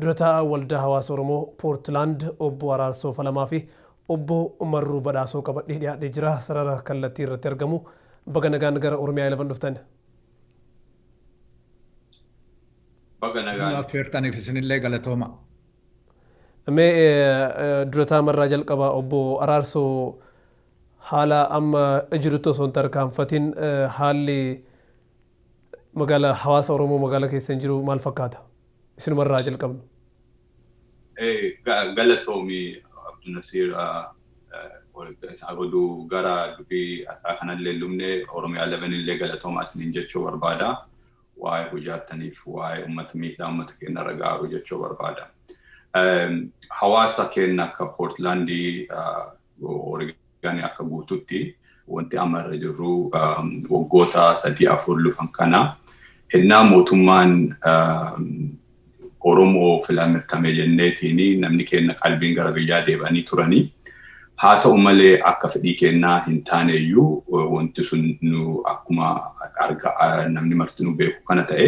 Dura taa'aa Waldaa Hawaasa Oromoo Poortilaand Obbo Araarsoo Falamaa fi Obbo Marruu Badhaasoo qabadhee dhiyaadhee jira sarara kallattii irratti argamu baga nagaan gara Oromiyaa 11 dhuftan. Baga nagaan. Nuu affeertaniif isinillee galatooma. Mee dura taa'aa marraa jalqabaa Obbo Araarsoo haala amma jirutti osoo hin tarkaanfatin haalli Magaala hawaasa Oromoo magaala keessan jiru maal fakkaata? Isinuma irraa haa jalqabnu. Galatoomi Abdunasiir oduu gara dubii adhaa kanallee hin lubne Oromiyaa 11 illee galatoomaa isiniin jechuu barbaada. Waa'ee hojaattaniif waa'ee ummata miidhaa ummata keenya irra gaaru jechuu barbaada. Hawaasa keenya akka Poortlaandii Oreegaanii akka guututti wanti amma irra jirru waggoota sadii afur lufan kana hennaa mootummaan Oromoo filamirtame jenneetiin namni keenna qalbiin gara biyyaa deebanii turanii haa ta'u malee akka fedhii keennaa hin taane iyyuu wanti sun nu akkuma arga namni martinuu beeku kana ta'e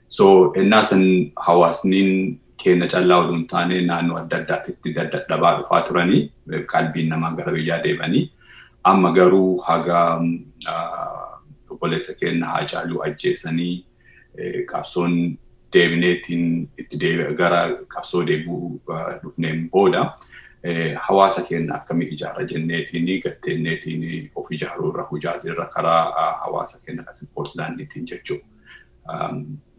So ennaa san hawaasniin keenya callaa oduu hin taane naannoo adda addaatitti dadhabaa dhufaa turanii qalbiin namaa gara biyyaa deemanii amma garuu haga obboleessa keenya haa caaluu ajjeesanii qabsoon deebineetiin itti deebi'a gara qabsoo deebi'uu dhufneen booda hawaasa keenya akkamii ijaara jenneetiin gatteenneetiin of ijaaruu irra hojaatii irra karaa hawaasa keenya kan Poortlaandiitiin jechuudha.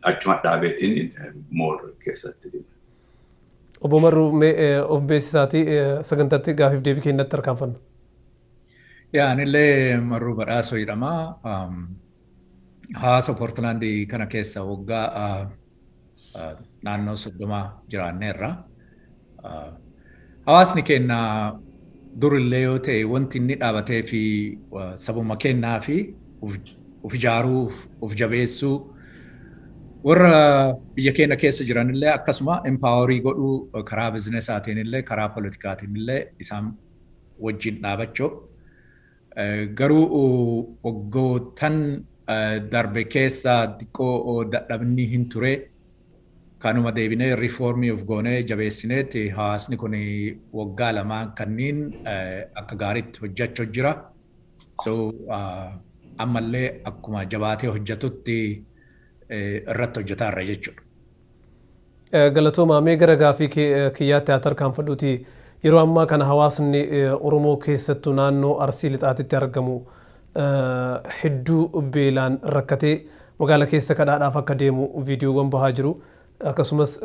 achuma dhaabeetiin mool keessatti deema. Obbo Marruu of beeksisaatii sagantaatti gaafiif deebii kennatti tarkaanfanna. Yaa anillee Marruu Badhaasoo jedhama. Hawaasa Poortilaandii kana keessa waggaa naannoo 30 jiraanneerra. Hawaasni keenya durillee yoo ta'e wanti inni dhaabatee fi sabuma keenyaa fi of ijaaruu, of jabeessuu warra biyya keenya keessa jiranillee akkasuma empaaworii godhuu karaa bizinesaatiin illee karaa politikaatiin illee isaan wajjin dhaabachuu Garuu waggoottan darbe keessa xiqqoo dadhabni hin ture. Kanuma deebinee reform of goonee jabeessineet hawaasni kun waggaa lamaan kanniin akka gaariitti hojjachu jira. So ammallee akkuma jabaatee hojjatutti irratti hojjataarra jechuudha. Galatoomaa. Mee gara gaaffii kiyyaatti haa tarkaanfadhuutii yeroo ammaa kana hawaasni Oromoo keessattuu naannoo Arsii Lixaatitti argamu hedduu beelaan rakkatee magaala keessa kadhaadhaaf akka deemu viidiyoowwan bahaa jiru. Akkasumas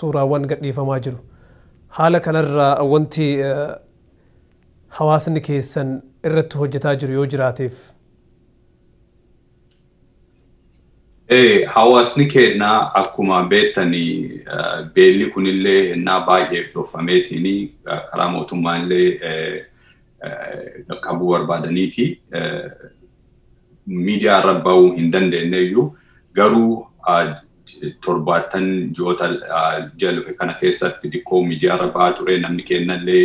suuraawwan gadhiifamaa jiru. Haala kanarraa wanti hawaasni keessan irratti hojjetaa jiru yoo jiraateef? Hawaasni keenya akkuma beektan beelli kunillee hennaa baay'eef dhoffameetiin karaa mootummaa illee qaqqabuu barbaadaniiti. Miidiyaa irra ba'uu hin dandeenye iyyuu garuu torbaattan ji'oota ji'a dhufe kana keessatti diqqoo miidiyaa irra ba'aa ture namni keenya illee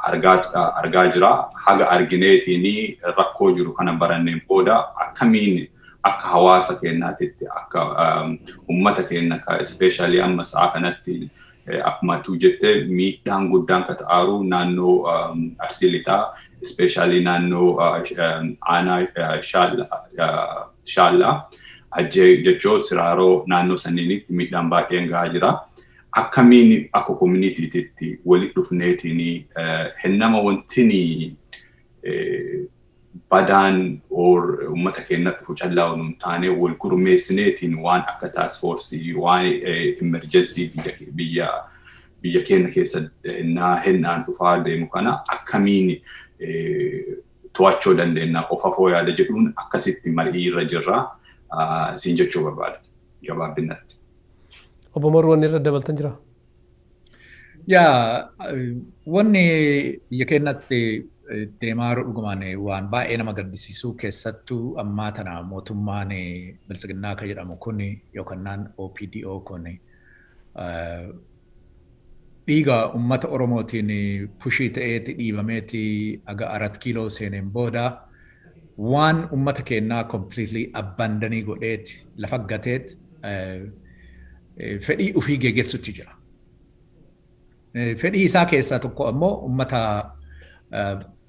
argaa jira. Haga argineetiin rakkoo jiru kana baranneen booda akkamiin akka hawaasa keenyaatitti akka uummata keenya ka ispeeshaalii amma sa'a kanatti akkuma tuu jette miidhaan guddaan ka ta'aaru naannoo arsii lixaa ispeeshaalii naannoo aanaa shaallaa hajjee jechoo siraaroo naannoo sanniinitti miidhaan baay'een gahaa jira. akkamiin akka community'titti wali dhufneetiin hennama wantini badaan or ummata keenya dhufu callaa wal hin taane wal gurmeessineetiin waan akka task force waan emergency biyya biyya biyya keenya keessa hennaa hennaan dhufaa deemu kana akkamiin to'achuu dandeenya of afoo yaada jedhuun akkasitti marii irra jirra siin jechuu barbaada gabaabinatti. Obbo Maruu wanni irra dabaltan jira? Yaa wanni biyya keenyatti deemaa jiru dhugumaan waan baay'ee nama gaddisiisu keessattuu ammaa tana mootummaan biltsiginnaa akka jedhamu kun yookaan OPDO kun Dhiiga ummata Oromootiin pushii ta'eeti dhiibameeti haga Arat Kiiloo seeneen booda waan ummata keennaa completely abandon godheet lafa gateet fedhii ufii geegessutti jira. Fedhii isaa keessaa tokko ammoo ummata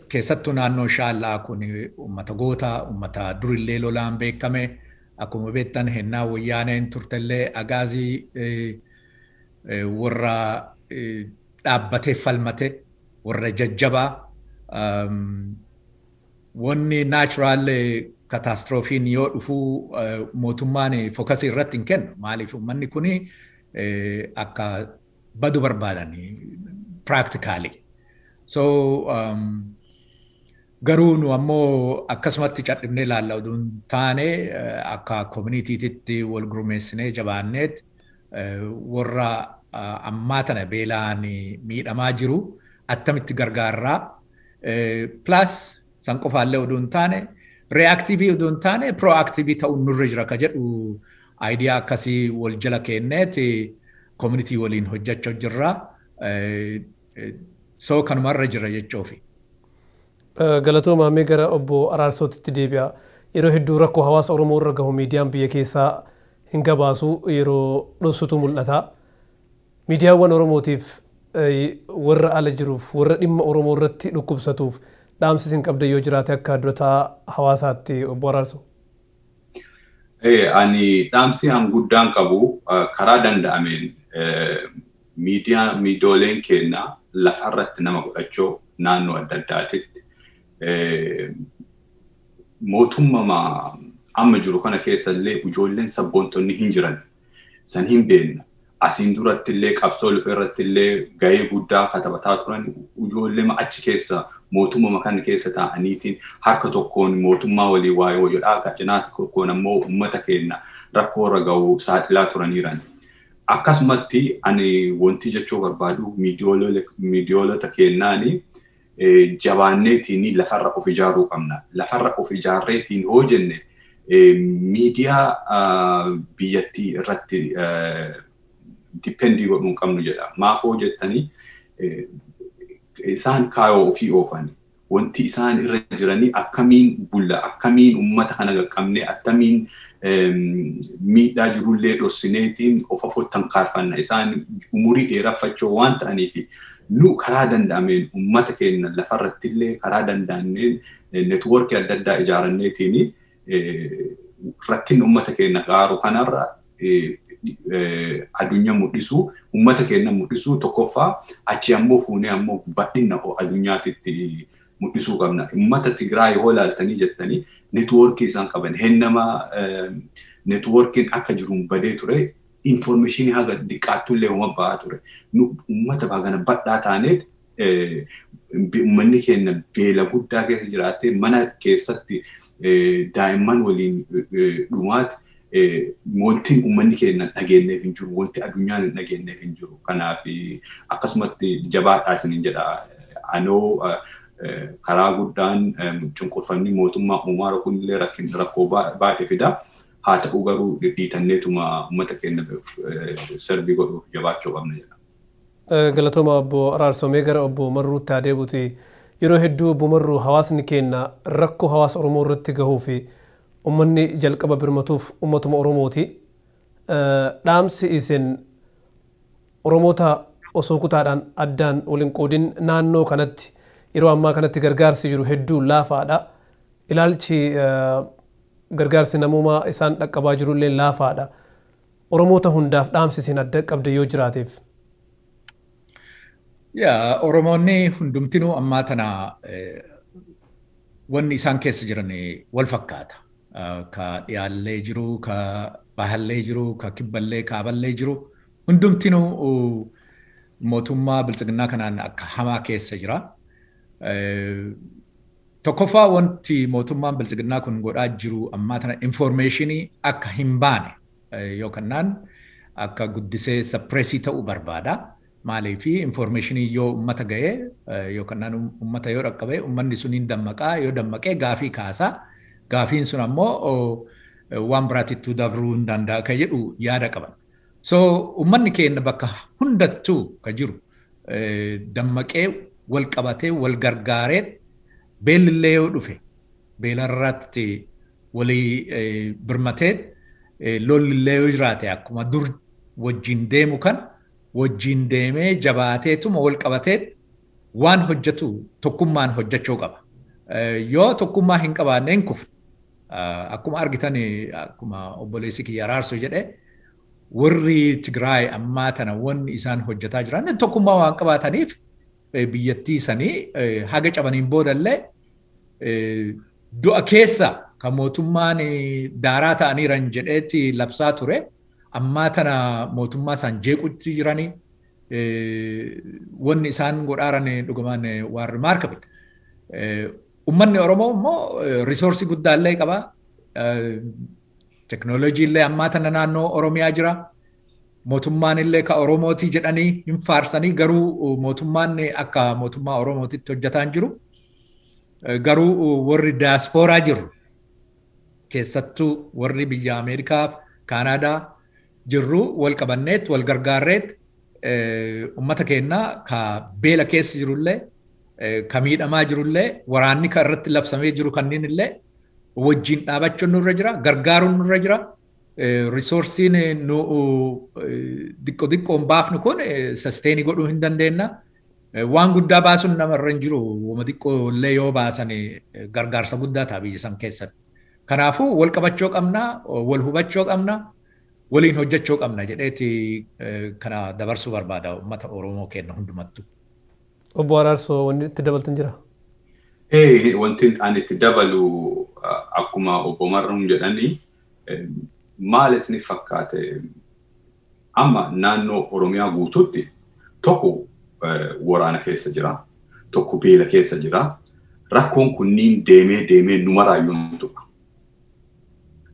keessattuu naannoo Shaallaa kun ummata goota, ummata durillee lolaan beekkame akkuma beektan hennaa Woyyaaneen turtellee Agaazii warra dhaabbatee falmate, warra jajjabaa, wanni natural kataastiroofiin yoo dhufu mootummaan fokasii irratti hin kennu. Maaliif uummanni kun akka badu barbaadan practically. So Garuu nu ammoo akkasumatti cadhifnee ilaalla oduu hin taane akka kominitiititti wal gurmeessinee jabaanneet warra ammaa tana beelaan miidhamaa jiru attamitti gargaarraa plus san qofaallee oduu hin taane reactive oduu hin taane proactive ta'uun nurra jira ka jedhu idea akkasii wal jala keenneet community waliin hojjachoo jirra. So kanuma irra jirra jechoofi. Galatoomaa mee gara obbo Araarsootitti deebi'a. Yeroo hedduu rakkoo hawaasa Oromoo irra gahu miidiyaan biyya keessaa hin gabaasu yeroo dhossutu mul'ata. Miidiyaawwan Oromootiif warra ala jiruuf warra dhimma Oromoo irratti dhukkubsatuuf dhaamsi isin qabdan yoo jiraate akka dura taa'aa hawaasaatti obbo Araarsoo. Ani dhaamsi an guddaan qabu karaa danda'ameen Miidiyaa miidooleen keenna lafa irratti nama godhachoo naannoo adda addaatitti mootummama amma jiru kana keessa illee ijoolleen sabboontonni hin jiran san hin beenna. Asiin duratti illee qabsoo lufe irratti illee gahee guddaa katabataa turan ijoollee achi keessa mootummama kana keessa taa'aniitiin harka tokkoon mootummaa walii waayoo jedhaa cinaa tokkoon ammoo uummata keenna rakkoo irra ga'u saaxilaa turaniiran. Akkasumatti ani wanti jechuu barbaadu miidiyoolota keennaani jabaanneetiin lafarra of ijaaruu qabna. Lafarra of ijaarreetiin hoo jenne miidiyaa biyyattii irratti dippeendii godhuu hin qabnu jedha. Maaf hoo jettanii isaan kaayoo ofii oofani. Wanti isaan irra jiranii akkamiin bulla, akkamiin uummata kana qaqqabnee, attamiin miidhaa jirullee dhossineetiin of afottan kaarfanna. Isaan umurii dheeraffachoo waan ta'aniif nu karaa danda'ameen uummata keenya lafarrattillee karaa danda'amneen netwoorkii adda addaa ijaaranneetiin rakkinni uummata keenya qaaru kanarra addunyaa mul'isuu, uummata keenya mul'isuu tokkoffaa achi ammoo fuunee ammoo bal'inna addunyaatitti mul'isuu qabna. Uummata Tigraay yoo ilaaltanii jettanii netwoorkii isaan qaban hennama netwoorkiin akka jiruun badee ture infoormeeshinii haga diqqaattullee homa ba'aa ture. Uummata baagana bal'aa taaneet uummanni keenya beela guddaa keessa jiraatee mana keessatti daa'imman waliin dhumaati wanti uummanni keenya dhageenyeef hin jiru wanti addunyaan hin dhageenyeef hin jiru kanaaf akkasumatti jabaadhaa isiniin jedha anoo karaa guddaan cunqurfamni mootummaa uumaara kunillee rakkin rakkoo baay'ee fida haa ta'u garuu dhidhiitanneetuma uummata keenya sarbii godhuuf jabaachuu qabna jedha. Galatoomaa obbo Araarsoo mee gara obbo Marruutti haa deebuti yeroo hedduu obbo Marruu hawaasni keenna rakkoo hawaasa Oromoo irratti gahuufi ummanni jalqaba birmatuuf ummatuma Oromooti dhaamsi isin Oromoota osoo kutaadhaan addaan wal hin qoodin naannoo kanatti yeroo ammaa kanatti gargaarsi jiru hedduu laafaadha ilaalchi gargaarsi namoomaa isaan dhaqqabaa jirullee laafaadha Oromoota hundaaf dhaamsi isin adda qabde yoo jiraateef. Yaa Oromoonni hundumtinuu ammaa tana wanni isaan keessa jiran wal fakkaata. Ka dhiyaallee jiru, ka bahallee jiru, ka kibballee kaaballee jiru hundumtinuu mootummaa biltsiginnaa kanaan akka hamaa keessa jira. Tokkoffaa wanti mootummaan biltsiginnaa kun godhaa jiru ammaa tana informeeshinii akka hin baane yoo kannaan akka guddisee sappireesii ta'u barbaada. Maaliif informeeshinii yoo ummata ga'e yoo kannaan ummata yoo dhaqqabe ummanni sun hin dammaqaa yoo dammaqee gaafii kaasa. Gaafiin sun ammoo waan biraatittuu dabruu hin danda'a ka jedhu yaada qaban. So ummanni keenna bakka hundattuu ka jiru dammaqee wal qabatee wal gargaareet beellillee yoo dhufe beelarratti walii birmateet lollillee yoo jiraate akkuma dur wajjiin deemu kan wajjiin deemee jabaateetuma wal qabateet Waan hojjetu tokkummaan hojjechuu qaba. Yoo tokkummaa hin qabaanne hin kufna. Akkuma argitan akkuma obboleessi kiyya araarsu jedhe warri Tigraay ammaa tana wanni isaan hojjetaa jiran tokkummaa waan qabaataniif biyyattii sanii haga cabaniin boodallee du'a keessa kan mootummaan daaraa ta'aniiran jedheetti labsaa ture ammaa tana mootummaa isaan jeequtti jiranii Wanni isaan godhaaran dhugumaan waan remarkable. Ummanni Oromoo immoo risoorsii guddaa illee qaba. Teknooloojii illee ammaa tana naannoo Oromiyaa jira. Mootummaan illee ka Oromootii jedhanii hin faarsanii garuu mootummaan akka mootummaa Oromootitti hojjetaa hin jiru. Garuu warri daaspooraa jiru keessattuu warri biyya Ameerikaa, Kaanaadaa, jirru wal qabanneet wal gargaarreet ummata keenna ka beela keessa jirullee ka miidhamaa jirullee waraanni ka irratti labsamee jiru kanniin illee wajjiin dhaabachuun nurra jira gargaaruun nurra jira risoorsiin nu diqqo diqqoon baafnu kun sasteenii godhuu hin dandeenna waan guddaa baasuun namarra hin jiru wama diqqoo illee yoo baasan gargaarsa guddaa ta'a biyya san keessatti Kanaafuu wal qabachoo qabna, wal hubachoo qabna, waliin hojjechoo qabna jedheeti kana dabarsuu barbaada uummata Oromoo keenna hundumattuu. Obbo Araarsoo wanni itti dabaltan jiraa? Ee wanti ani itti dabalu akkuma obbo Marroon jedhani maal isiniif fakkaate? Amma naannoo Oromiyaa guutuutti tokko waraana keessa jira, tokko beela keessa jira. Rakkoon kunniin deemee deemee nu maraayyuu nu tuqa.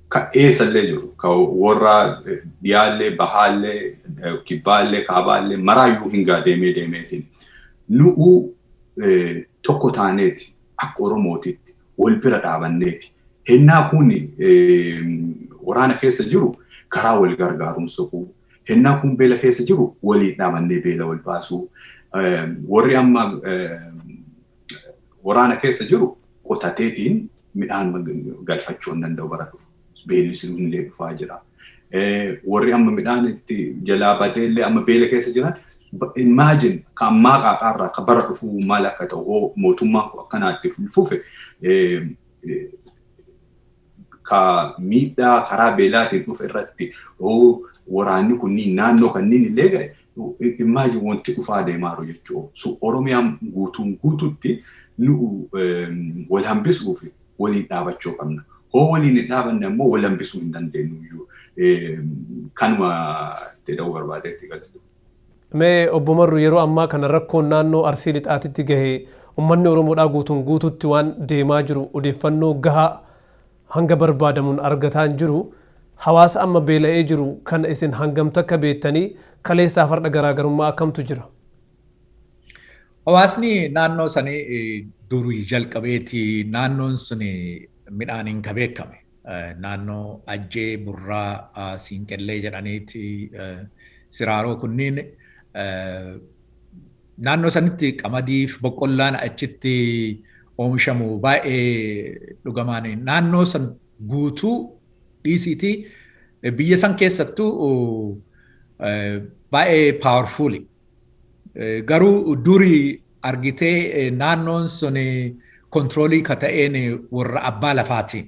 Ka eessallee jiru, ka warra dhiyaallee, bahaallee, kibbaallee, kaabaallee maraayyuu hingaa deemee deemeetiin. Nu'uu tokko taaneeti akka Oromootitti wal bira dhaabanneeti. Hennaa kun waraana keessa jiru karaa wal gargaaruun soquu. Hennaa kun beela keessa jiru waliin dhaabannee beela wal baasuu. Warri amma waraana keessa jiru qotateetiin midhaan galfachuu hin danda'u bara dhufu. beelli sun illee dhufaa jira. Warri amma midhaan itti jalaa badee illee amma beela keessa jiran imagine ka ammaa qaaxaa irraa ka bara dhufuu maal akka ta'u hoo mootummaan kun akkanaa itti fufe ka miidhaa karaa beelaatiin dhufe irratti hoo waraanni kunniin naannoo kanniin illee ga'e imagine wanti dhufaa deemaaru jechuudha. So Oromiyaan guutuun guututti nu wal hambisuufi waliin dhaabachuu qabna. Hoo waliin hin dhaabanne ammoo wal hambisuu hin dandeenyu iyyuu. Kanuma itti dha'uu barbaadee itti galchu. Mee obbo Marru yeroo ammaa kana rakkoon naannoo Arsii Lixaatitti gahe ummanni Oromoodhaa guutuun guututti waan deemaa jiru odeeffannoo gahaa hanga barbaadamuun argataa hin jiru. Hawaasa amma beela'ee jiru kana isin hangam takka beektanii kaleessaaf har'a garaagarummaa akkamtu jira? Hawaasni naannoo sanii durii jalqabeeti naannoon sun midhaaniin ka beekame. Naannoo Ajjee, Burraa, Siinqellee jedhaniiti siraaroo kunniin naannoo sanitti qamadiif boqqollaan achitti oomishamu baay'ee dhugamaan naannoo san guutuu dhiisiiti biyya san keessattuu baay'ee paawarfuuli. Garuu duri argitee naannoon sun kontiroolii ka ta'een warra abbaa lafaati.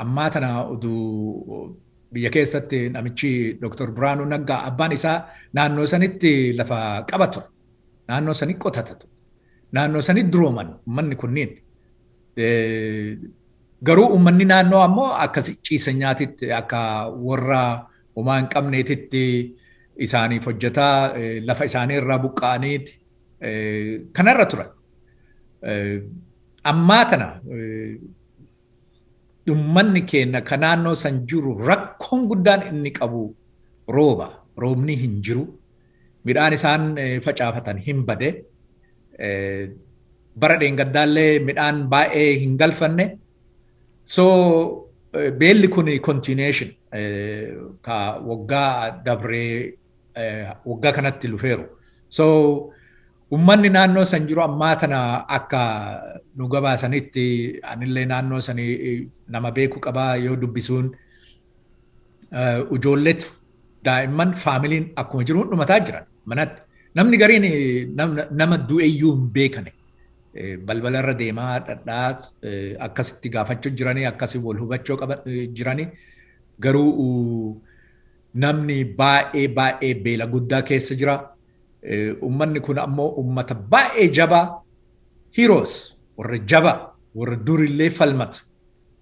Ammaa tana uduu biyya keessatti namichi Dr. Biraanuu Naggaa abbaan isaa naannoo sanitti lafa qaba ture. Naannoo sanii qotata ture. Naannoo sanii durooman uummanni kunniin. Garuu uummanni naannoo ammoo akka ciisanyaatitti akka warra homaa hin qabneetitti isaaniif hojjetaa lafa isaanii irraa buqqa'aniiti kanarra turan. Ammaa tana ummanni keenya ka naannoo san jiru rakkoon guddaan inni qabu rooba. Roobni hin jiru. Midhaan isaan facaafatan hin bade. Bara dheengaddaallee midhaan baay'ee hin galfanne. So beelli kun continuation ka waggaa dabree waggaa kanatti lufeeru. So ummanni naannoo san jiru ammaa tana akka nu gabaasanitti anillee naannoo sani nama beeku qaba yoo dubbisuun ijoolletu daa'imman faamiliin akkuma jiru hundumataa jiran manatti. Namni gariin nama du'eeyyuu hin beekane. Balbala irra deemaa dhadhaa akkasitti gaafachuu jiranii akkasi wal hubachuu qaba jiranii garuu namni baay'ee baay'ee beela guddaa keessa jira. Ummanni kun ammoo ummata baay'ee jabaa heroes warra jabaa warra durillee falmata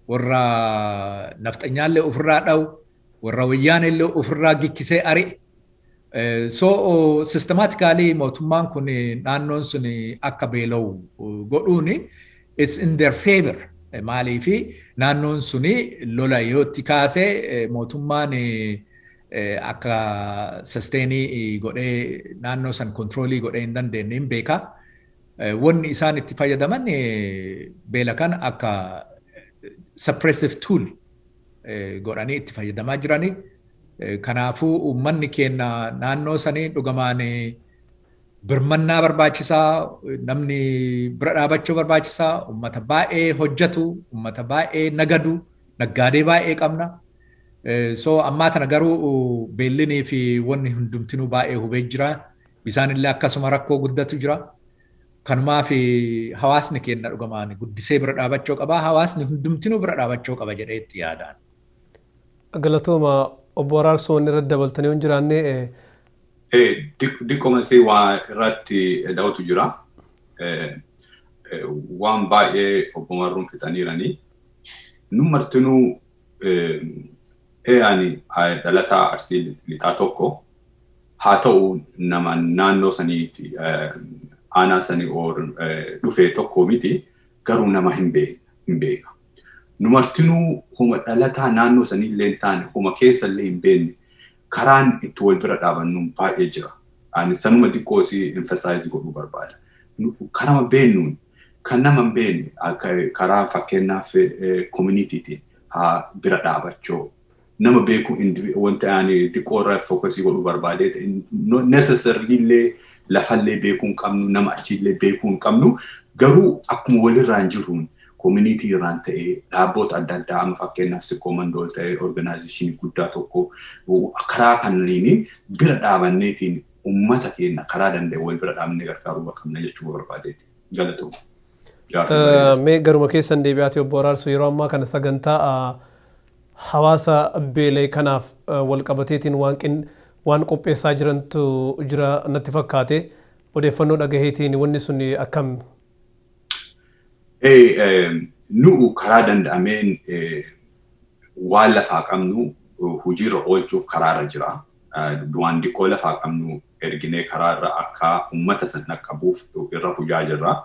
Warra nafxanyaallee ofirraa dhawu, warra wayyaaneellee ofirraa gikkisee ari'e. So systematically mootummaan kun naannoon sun akka beela'u godhuun it's in their favor. Maaliif naannoon sun lola yoo itti kaase mootummaan akka susteenii godhee naannoo san kontiroolii godhee hin dandeenye hin beeka. Wanni isaan itti fayyadaman beela kana akka suppressive tool godhanii itti fayyadamaa jirani. Kanaafuu uummanni keenya naannoo sanii dhugumaan birmannaa barbaachisaa, namni bira dhaabachuu barbaachisaa, uummata baay'ee hojjetu, uummata baay'ee nagadu, naggaadee baay'ee qabna. So ammaa tana garuu beellinii fi wanni hundumtinuu baay'ee hubee jira. Bisaanillee akkasuma rakkoo guddatu jira. Kanumaafi hawaasni keenna dhugamaan guddisee bira dhaabachoo qaba. Hawaasni hundumtinuu bira dhaabachoo qaba jedhee itti yaadaan. Galatooma obbo Araarsoo wanni irratti dabaltan yoo hin jiraanne. Diqqoma si waa irratti da'utu jira. Waan baay'ee obbo Marruun fixaniirani. Nu martinuu ani dhalataa Arsii Lixaa tokko. Haa ta'u nama naannoo saniitti aanaa sanii or dhufee tokko miti garuu nama hin beeka. Nu martinuu homa dhalataa naannoo sanii illee hin taane homa keessa illee hin beekne karaan itti wal bira dhaabannu baay'ee jira. Ani sanuma diqqoo si emphasize godhuu barbaada. Karama beennuun kan nama hin beekne karaa fakkeenyaaf communitytiin haa bira dhaabachoo. nama beeku wanta ani xiqqoo irra fookasii godhu barbaadee necessarily illee lafallee beekuu hin qabnu nama achiillee beekuu hin qabnu garuu akkuma walirraan jiruun koominiitii irraan ta'ee dhaabboota adda addaa amma fakkeenyaaf sikkoo mandool ta'ee organaayizeeshinii guddaa tokko karaa kanneen bira dhaabanneetiin uummata keenya karaa danda'e wal bira dhaabnee gargaaruu qabna jechuu barbaadeeti galatoom. Mee garuma keessan deebi'aati obbo Araarsuu yeroo ammaa kana sagantaa Hawaasa beela'e kanaaf walqabateetiin waan qopheessaa jirantu jira natti fakkaate. Odeeffannoo dhagaheetiin wanni sun akkam? Nu'u karaa danda'ameen waan lafaa qabnu hojiirra oolchuuf karaarra jira. Waan diqqoo lafaa qabnu erginee karaarra akka ummata san dhaqqabuuf irra hojaa jirra.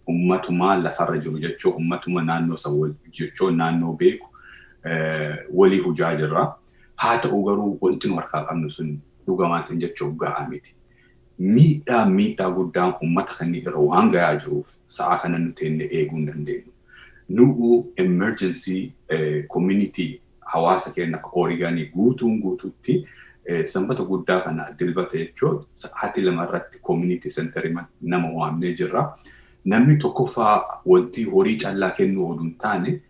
ummatuma lafarra jiru jechoo ummatuma naannoo san wal jechoo naannoo beeku walii hujaa jirra. Haa ta'u garuu wanti nu harkaa qabnu sun dhugamaan sin jechoo gahaa miti. Miidhaa miidhaa guddaan ummata kanneen irra waan gayaa jiruuf sa'aa kana nu teenne eeguu hin dandeenyu. Nu'u emergency community hawaasa keenya akka Oregon guutuun guutuutti sanbata guddaa kana dilbata jechuun sa'aatii lama irratti community center nama waamnee jirra. Namni tokkoffaa wanti horii callaa kennuu oduu hin taane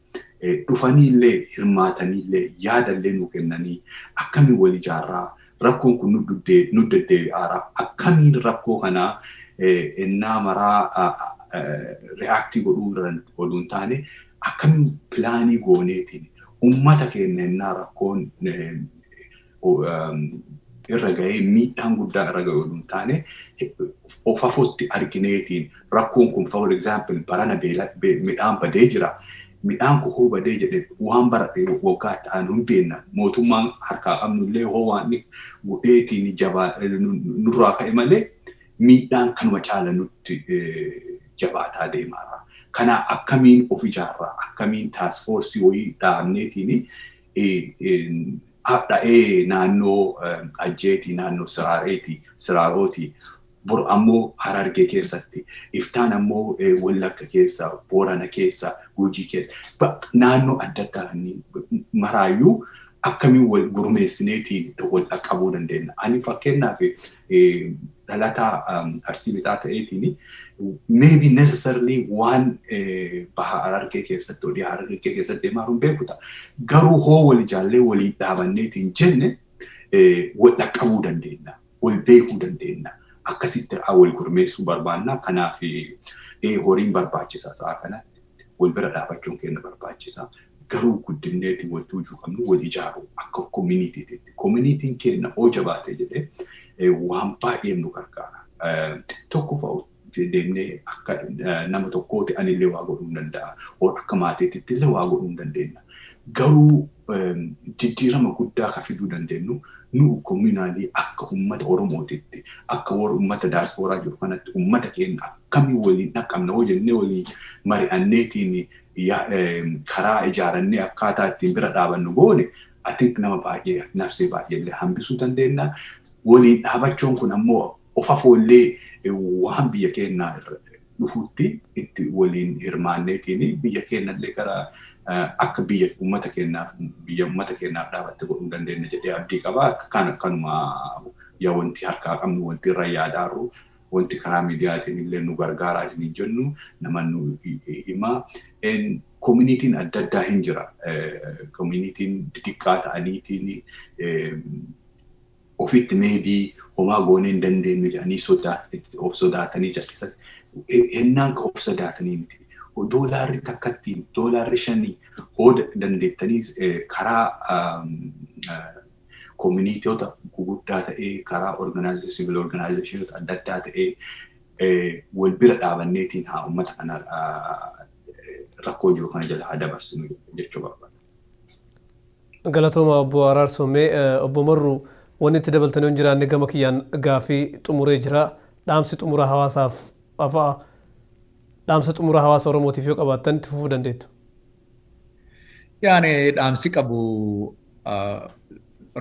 dhufanii illee hirmaatanii illee yaada illee nuu kennanii akkamiin wal ijaarraa rakkoon kun nu deddeebi'aara akkamiin rakkoo kana ennaa maraa reaaktii godhuu irratti oduu hin taane Akkam pilaanii gooneetiin ummata keenya ennaa rakkoon irra gahee miidhaan guddaan irra gahe oduu hin taane fafotti argineetiin rakkoon kun for example barana midhaan badee jira. Midhaan kukuu badee jedhe waan bara waggaa itti aanu hin beenna. Mootummaan harkaa qabnu illee hoo waan godheetiin jabaa nurraa ka'e malee miidhaan kanuma caala nutti jabaataa deemaara. Kana akkamiin of ijaarraa akkamiin taaskfoorsii wayii dhaabneetiin hadha'ee naannoo Ajjeetii, naannoo Siraareetii, Siraarootii, bor ammoo Harargee keessatti, iftaan ammoo Wallagga keessa, Boorana keessa, Gujii keessa, naannoo adda addaa maraayyuu akkamiin wal gurmeessineetiin wal dhaqqabuu dandeenna. Ani fakkeenyaaf dhalataa Arsii Lixaa ta'eetiin maybe necessarily waan baha Harargee keessatti odii Harargee keessatti deemaa hin beeku ta'a. Garuu hoo wal ijaallee waliin dhaabanneetiin jenne wal dhaqqabuu dandeenya. Wal beekuu dandeenya. Akkasitti wal gurmeessuu barbaanna. Kanaaf horiin barbaachisa sa'a kanatti. Wal bira dhaabachuun keenya barbaachisa. Garuu guddinneeti wanti hujuu qabnu wal ijaaru akka kominitiititti. Kominiitiin keenna hoo jabaate jedhe waan baay'een nu gargaara. Tokkofa deemnee akka nama tokkooti anillee waa godhuun danda'a. Or akka maatiititti illee waa godhuun dandeenna. Garuu jijjiirama guddaa ka fiduu dandeennu nu kominaalii akka ummata Oromootitti akka warra ummata daaspooraa jiru kanatti ummata keenna akkamiin waliin dhaqqabna hoo jennee waliin mari'anneetiin karaa ijaarannee akkaataa ittiin bira dhaabannu goone I think nama baay'ee nafsee baay'ee illee hambisuu dandeenya. Waliin dhaabachuun kun ammoo of afoo illee waan biyya keenyaa irratti dhufutti itti waliin hirmaanneetiin biyya keenya illee gara akka biyya uummata keenyaaf biyya uummata keenyaaf dhaabatte godhuu dandeenya jedhee abdii qaba. Kan akkanuma yaa wanti harkaa qabnu wanti irra yaadaarru Wanti karaa miidiyaatiin illee nu gargaaraa isiniin jennu nama nu himaa. Koominiitiin adda addaa hin jira. Koominiitiin didiqqaa ta'aniitiin ofitti meebii homaa goonee hin dandeenyu jedhanii sodaa of sodaatanii callisan. Hennaan ka of sodaatanii miti. Doolaarri takkatti doolaarri shanii hoo dandeettanii karaa kominitiota guguddaa ta'ee karaa organization civil organizationota adda addaa ta'ee wal bira dhaabanneetiin haa uummata kana rakkoo jiru kana jala haa dabarsinu jechuu barbaada. Galatooma obbo Araarsoo mee obbo Marruu wanni itti dabaltanii hin jiraanne gama kiyyaan gaafii xumuree jira. Dhaamsi xumura hawaasaaf afaa dhaamsa xumura hawaasa Oromootiif yoo qabaattan itti fufuu dandeettu. Yaani dhaamsi qabu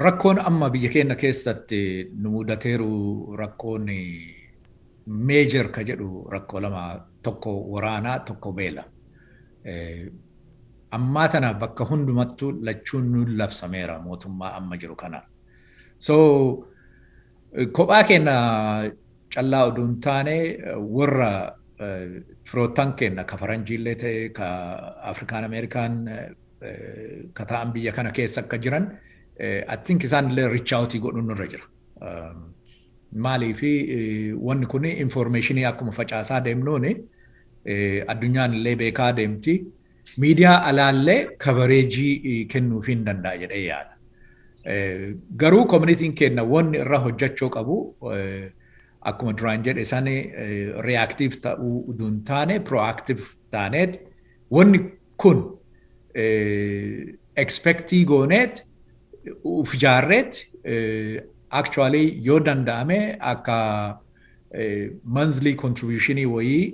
rakkoon amma biyya keenya keessatti nu mudateeru rakkoon meejer ka jedhu rakkoo lama tokko waraanaa tokko beela. Ammaa tana bakka hundumattu lachuun nuun labsameera mootummaa amma jiru kana. So kophaa keenya callaa oduu hin taane warra firoottan keenna ka faranjiillee ta'e ka Afrikaan Ameerikaan ka ta'an biyya kana keessa akka jiran I think isaan illee reach out godhuun nurra jira. Maaliif wanni kun information akkuma facaasaa deemnuun addunyaan illee beekaa deemti. Miidiyaa alaallee kabareejii kennuufii hin danda'a jedhee yaada. Garuu koominitiin keenna wanni irra hojjachoo qabu akkuma duraan jedhe sani reactive ta'uu uduu hin taane proactive taaneet wanni kun expectii gooneet uf ijaarreet actually yoo danda'ame akka monthly contributionii wayii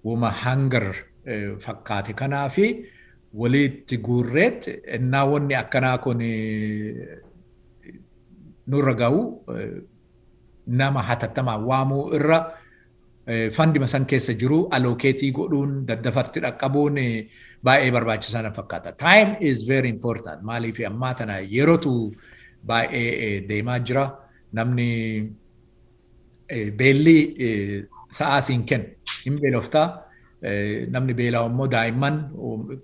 woma hanger fakkaate kanaafi wolii itti guurreet ennaa wonni akkanaa kun nurra gahu nama hatattamaan waamuu irra fandima san keessa jiru allocate godhuun daddafatti dhaqqabuun baay'ee barbaachisaa na fakkaata. Time is very important maaliif ammaa tana yerotu baay'ee deemaa jira namni Beelli sa'aa siin kennu. Hin beelofta. Namni beela'u immoo daa'imman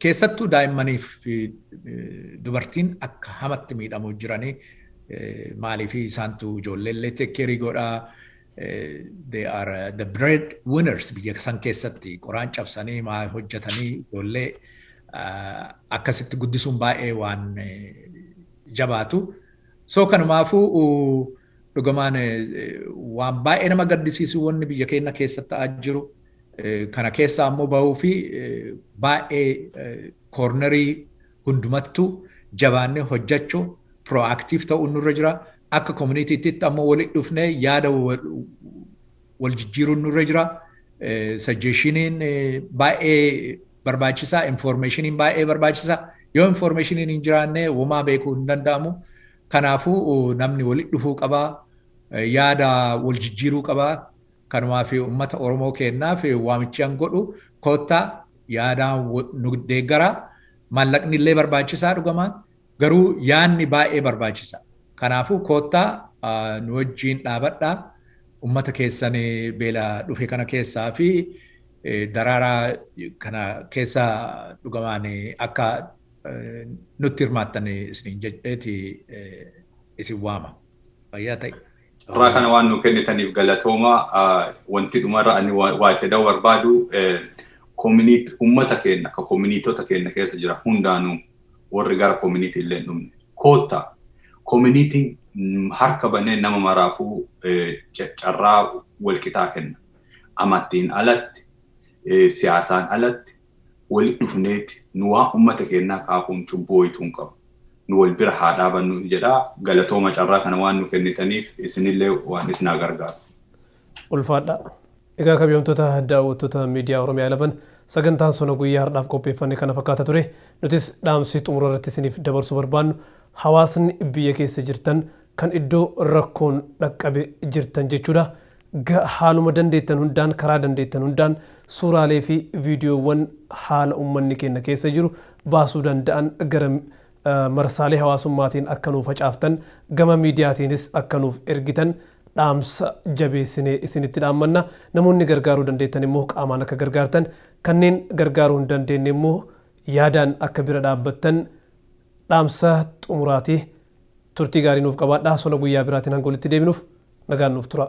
keessattuu daa'immanii fi dubartiin akka hamatti miidhamu jiranii maaliif isaantu ijoollee illee tekkeerii godhaa. They are the bread winners biyya san keessatti qoraan cabsanii maa hojjetanii ijoollee akkasitti guddisuun baay'ee waan jabaatu. So kanumaafuu dhugamaan waan baay'ee nama gaddisiisu wanni biyya keenya keessatti ta'aa jiru kana keessaa ammoo bahuu fi baay'ee koornerii hundumattuu jabaannee hojjechuu proactive ta'uun nurra jira. Akka community'tti ammoo walitti dhufnee yaada wal jijjiiruun nurra jira. Suggestion'iin baay'ee barbaachisaa infoormeeshiniin baay'ee barbaachisa yoo infoormeeshiniin hin jiraanne womaa beekuu hin danda'amu kanaafuu namni walitti dhufuu qaba yaada wal jijjiiruu qaba kanumaaf ummata oromoo keennaaf waamichaan godhu koottaa yaadaan nu deeggaraa maallaqni illee barbaachisaa dhugamaan Garuu yaadni baay'ee barbaachisa. Kanaafuu koottaa nu wajjiin dhaabadhaa ummata keessan beela dhufe kana keessaa fi daraaraa kana keessa dhugamaan akka nutti hirmaattan isiniin jedheeti isin waama. Fayyaa ta'i. Carraa kana waan nu kennitaniif galatooma. Wanti dhumarra ani waa itti da'uu barbaadu ummata keenya akka koominiitota keenya keessa jira hundaanuu worri gara community illee hin dhumne. Kootta community harka banee nama maraafuu carraa walqixaa kenna. Amattiin alatti, siyaasaan alatti wali dhufneeti nu waan ummata keennaa kaakuun cubbuu woyituu hin qabu. Nu wal bira haa dhaabannuu jedha. Galatooma carraa kana waan nu kennitaniif isinillee waan isin haa gargaaru. Ulfaadhaa. Egaa kabjamtoota daawwattoota Miidiyaa Oromiyaa 11 sagantaan sona guyyaa hardhaaf qopheeffanne kana fakkaata ture. Nutis dhaamsi xumura irratti isiniif dabarsuu barbaannu hawaasni biyya keessa jirtan kan iddoo rakkoon dhaqqabe jirtan jechuudha. Ga haaluma dandeettan hundaan karaa dandeettan hundaan suuraalee fi viidiyoowwan haala ummanni keenna keessa jiru baasuu danda'an gara marsaalee hawaasummaatiin akka nuu facaaftan gama miidiyaatiinis akka nuuf ergitan dhaamsa jabeessinee isinitti dhaammanna. Namoonni gargaaruu dandeettan immoo qaamaan akka gargaartan, kanneen gargaaruu hin dandeenye immoo yaadaan akka bira dhaabbattan dhaamsa xumuraati. Turtii gaarii nuuf qabaadhaa. Sona guyyaa biraatiin hanga walitti deebinuuf nagaan nuuf tura.